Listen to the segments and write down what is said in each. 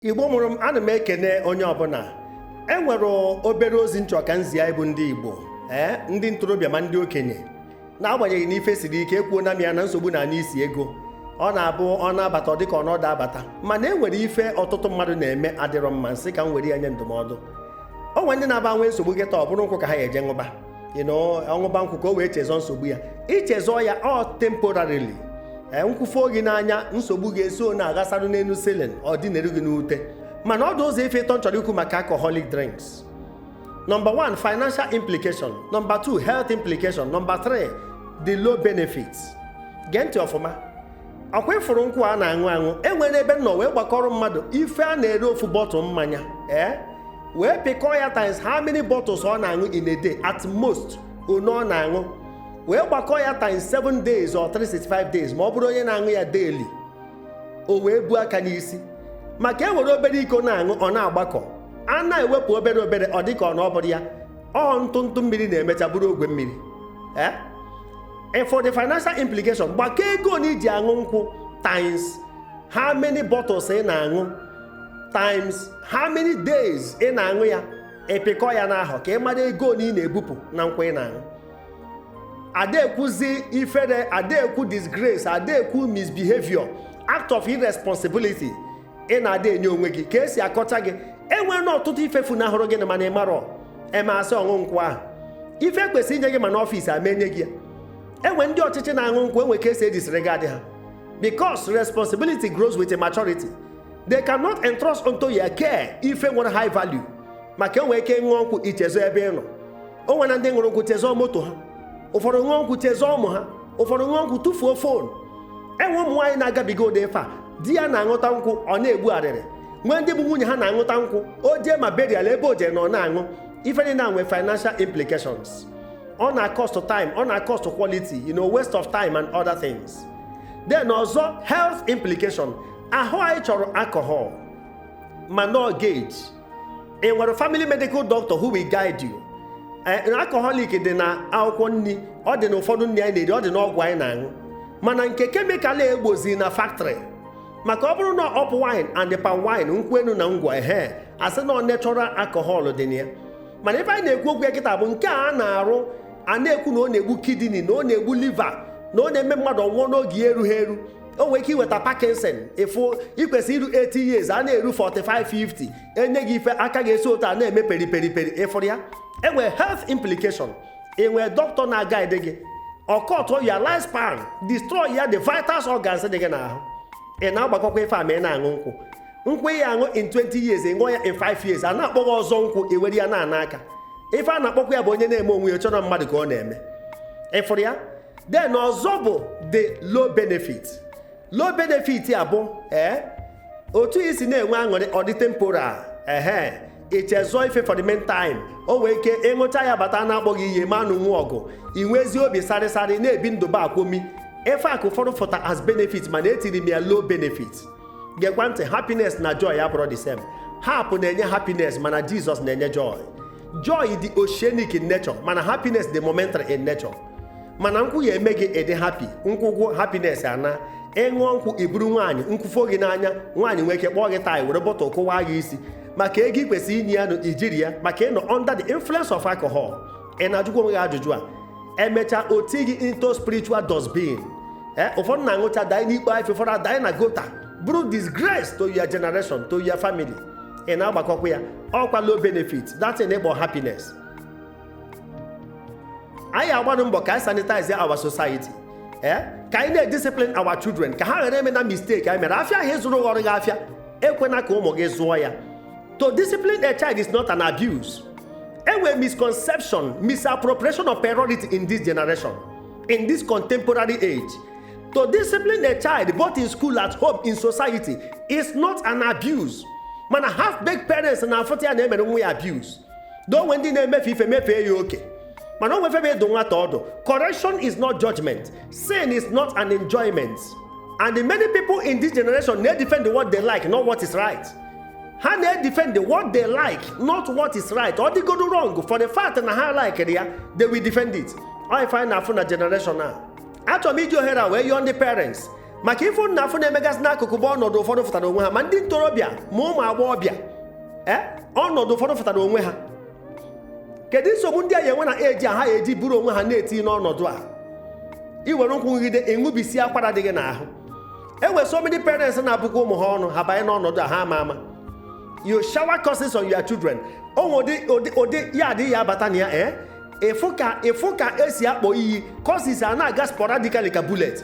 igbo mụrụ m ana m ekene onye ọbụla e nwere obere ozi nchọ ka nzi anyị bụ ndị igbo ee ndị ntorobịa ma ndị okenye n'agbanyeghị na ife siri ike ekwuo na m ya na nsogbu na anya isi ego ọ na-abụ ọ na-abata ọ dịka ọ na ọ da abata mana e nwere ife ọtụtụ mmadụ na-eme adịrọ mma nsị ka m were ya nye ndụmọdụ o nwere ndị na-abụ ha nwee nsogbu kịta ọ bụrụ nkwụ ka ha ga-eje ṅụba ọṅụba nkwụ ka o wee chezọ nsogbu ya ichezọ ya ọ temporarily e, nkwụ fee gị n'anya nsogbu gị eso na-aghasarụ n'elu silin ọ dinere gị n'ute mana ọ dị ụzọ ife ịtọ nchọrọ ikwu maka alcoholic drinks Number one, financial implication. Number two, health implication. Number three, the low benefits. Gee ntị ọfụma. ọkwa ịfụrụ nkwụ a na-aṅụ aṅụ e nwere ebe nnọ wee gbakọrọ mmadụ ife a na-ere ofu bọtụl mmanya ee eh? wee pịkọọ ya times how many bottles ọ na-aṅụ in a day at most one ọ na-aṅụ wee gbakọọ ya times 7 days or 365 days ma ọ bụrụ onye na-aṅụ ya daily o wee buo aka n'isi maka e were obere iko na-aṅụ ọ na-agbakọ a na-ewepụ obere obere ọ dịka ọ na ọ bụrọ ya ọ ntụ ntụ mmiri na-emecha bụrụ ogwe mmiri ee eh? and for the financial implication gbakọ ego na i ji aṅụ nkwụ times how many bottles ị na-aṅụ times how many days ị na-aṅụ ya ịpịkọ ya n'ahọ ka ị mara ego na ị na-ebupụ na nkwụ ị na-aṅụ adị ekwuzi ifere adị ekwu disgrace adị ekwu misbehavior act of irresponsibility ị na-adị enye onwe gị ka esi akọcha gị e nweena ọtụtụ ife funahụrụ gị nụ mana ị marọ eme asị ọṅụ nkwụ ahụ ife e kwesịrị inye gị ma n'ọfịs ama enye gị ya enwe ndị ọchịchị na-aṅụ nkwụ enwe ka esi edisregard ha because responsibility grows with maturity they cannot entrust unto your care ife nwere high value maka i nwere ike ṅụọ nkwụ ichezọ ebe ị nọ o nwere ndị ṅụrụ nkwụ chezọọ moto ha ụfọdụ ṅụọ nkwụ chezọọ ụmụ ha ụfọdụ ṅụọ nkwụ tụfuo fon enwe ụmụ nwaanyị na-agabiga ụdị ife a di ya na-aṅụta nkwụ ọ na-egbu arịrị nwee ndị bụ nwunye ha na-aṅụta nkwụ o jee ma burial ebe o jere na ọ na-aṅụ ife niile na-enwe financial implications ọ na-cost time ọ na-cost quality you know waste of time and other things then ọzọ health implication ahụ anyị chọrọ alcohol mana ọ gauge ị nwere family medical doctor who will guide you eh, alcoholic dị na akwụkwọ nri ọ dị na ụfọdụ nri anyị na-eri ọ dị n'ọgwụ anyị na-aṅụ mana nke kemikal egbozi na factory maka ọ bụrụ na ọ up wine and palm wine nkwụ enu na ngwọ ehe asị na ọ natural alcohol dị na ya mana ife anyị na-ekwu okwu ya kịta bụ nke a na-arụ a na-ekwu na ọ na-egbu kidney na ọ na-egbu liver na ọ na-eme mmadụ ọ nwụọ n'oge ya erughị eru o nwere ike iweta Parkinson ife i kwesị iru 80 years a na-eru 45 50 enye gị ife aka gị esi otu a na-eme peri peri peri ịfụrụ ya enwere health implication enwere dọkịta na-agaide gị ọ cutụọ your life span destroy ya the vital organs dị gị n'ahụ ị na-agbakọkwa ife a ma ị na-aṅụ nkwụ nkwụ ị ya-aṅụ in 20 years ị ṅụọ ya in 5 years a na-akpọ gị ọzọ nkwụ iwere ya na-ana aka ife a na-akpọkwa ya bụ onye na-eme onwe ya chọ na mmadụ ka ọ na-eme ịfụrụ ya then ọzọ bụ the low benefit low benefit a bụ ee eh, otu isi na-enwe aṅụrị ọ dị temporal ehe ichezọ ife for the meantime i nwee ike ịṅụcha ya bata a na-akpọ gị ihe ma nụ nwa ọgụ inwezi obi sarịsarị na-ebi ndụ ba komi ife a ka ụfọdụ fụta as benefit mana etiri m ya low benefit gekwa ntị happiness na joy abụrọ the same Harp na-enye happiness mana jizọs na-enye joy joy dị oceanic in nature mana happiness dị momentary in nature mana nkwụ ya-eme gị ị dị happy nkwụ gwụ happiness anaa ịṅụọ nkwụ iburu nwaanyị nkwụ fo gị n'anya nwaanyị nwee ike kpọọ gị tie were bottle kụwaa gị isi maka ego ikwesị inye ya nụ ijiri ya maka ịnọ under the influence of alcohol ị na-ajụkwa onwe gị ajụjụ a emechaa o ti gị into spiritual dustbin ee eh, ụfọdụ na-aṅụcha danye n'ikpo ife ụfọdụ adanye na gutter bụrụ disgrace to your generation to your family ị na-agbakọkwa ya ọkwa low benefit that thing ị kpọ happiness anyị agbanụ mbọ ka anyị sanitize our society ee eh? ka anyị na-ediscipline our children ka ha ghara emena mistake anyị mere afịa ahụ ị zụrụ ghọrọ gị afịa ekwena ka ụmụ gị zụọ ya to discipline a child is not an abuse enwe misconception misappropriation of priority in this generation in this contemporary age to discipline a child both in school at home in society is not an abuse mana half baked parents na-afụta ya na emere nwa ya abuse though enwe ndị na-emefe ife mefee ya oke mana o nwe ife bụ ịdụ nwata ọdụ correction is not judgment sin is not an enjoyment and many people in this generation na-edefend what they like not what is right ha na-edefend what they like not what is right ọ dịgodu wrong for the fact na ha likere ya they will defend it ọ ife anyị na-afụ na generation a achọrọ m iji ohere a wee yọọ ndị parents maka ife m na-afụ na-emegasị n'akụkụ bụ ọnọdụ ụfọdụ fụtara onwe ha ma ndị ntorobịa ma ụmụ agbọghọbịa ee eh, ọnọdụ ụfọdụ fụtara onwe ha kedu nsogbu ndị a ya enwe na eji aha ya eji buru onwe ha na-eti n'ọnọdụ a iwere nkwụ ṅụgide ị ṅụbisie akwara dị gị n'ahụ enwe so many parents na-abụkwa ụmụ ha ọnụ ha banye n'ọnọdụ a ha ama ama you shower curses on your children o nwe ụdị ụdị yard ị ya-abata na ya ee eh? ịfụ ka ịfụ ka esi akpọ iyi curses a na-aga sporadically ka bullet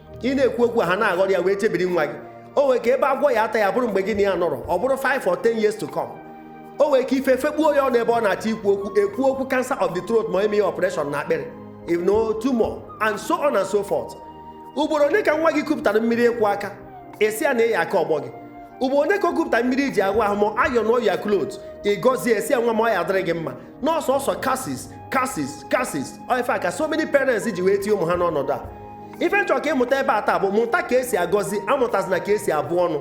ị na-ekwu okwu ha na-aghọrọ ya wee chebiri nwa gị o nwere ka ebe agwọ ya ata ya bụrụ mgbe gị na ya nọrọ ọ bụrụ 5 or 10 years to come o nwere ka ife fekpuo ya ọnụ ebe ọ na-achọ ikwu okwu ekwu okwu cancer of the throat ma eme ya operation na akpịrị if no tumor and so on and so forth ugboro ole ka nwa gị kupụtara mmiri ịkwọ aka ị sị ya na ị ya-aka ọgbọ gị ugboro ole ka o kupụtara mmiri i ji aghụ ahụ ma iron your clothes ị gọzie sị ya nwa m ọ ya-adịrị gị mma na ọ sọsọ curses curses curses ife a ka so many parents ji wee tie ụmụ ha n'ọnọdụ a ife m chọ ka ị mụta ebe a taa bụ mụta ka esi agọzi amụtazịna ka esi abụ ọnụ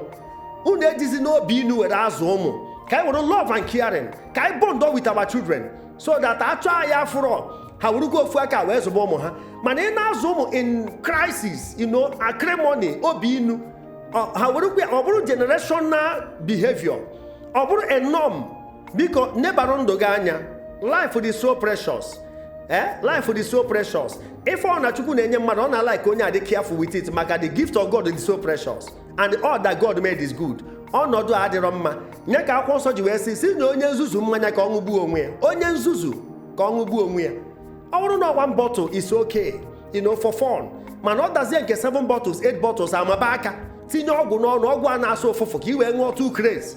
unu ejizi n'obi inu were azụ ụmụ ka anyị were love and caring ka anyị bond with our children so that a chọọ anyị afụrọ ha werugo ofu aka wee zụba ụmụ ha mana ị na-azụ ụmụ in crisis you know acrimony obi inu ha werukwe ọ bụrụ generational behavior ọ bụrụ a norm biko nebara ndụ gị anya life is so precious eh life is so precious ife ọ na chukwu na-enye mmadụ ọ na-alike onye a dị careful with it maka the gift of god is so precious and all that god made is good ọnọdụ a adịrọ mma nya ka akwụkwọ nsọ ji wee sị sị nye onye nzuzu mmanya ka ọ ṅụgbuo onwe ya onye nzuzu ka ọ ṅụgbuo onwe ya ọ bụrụ na one bottle is okay you know for fun mana ọ dazie nke 7 bottles 8 bottles a maba aka tinye ọgwụ n'ọnụ ọgwụ a na-asụ ụfụfụ ka i wee ṅụọ to craze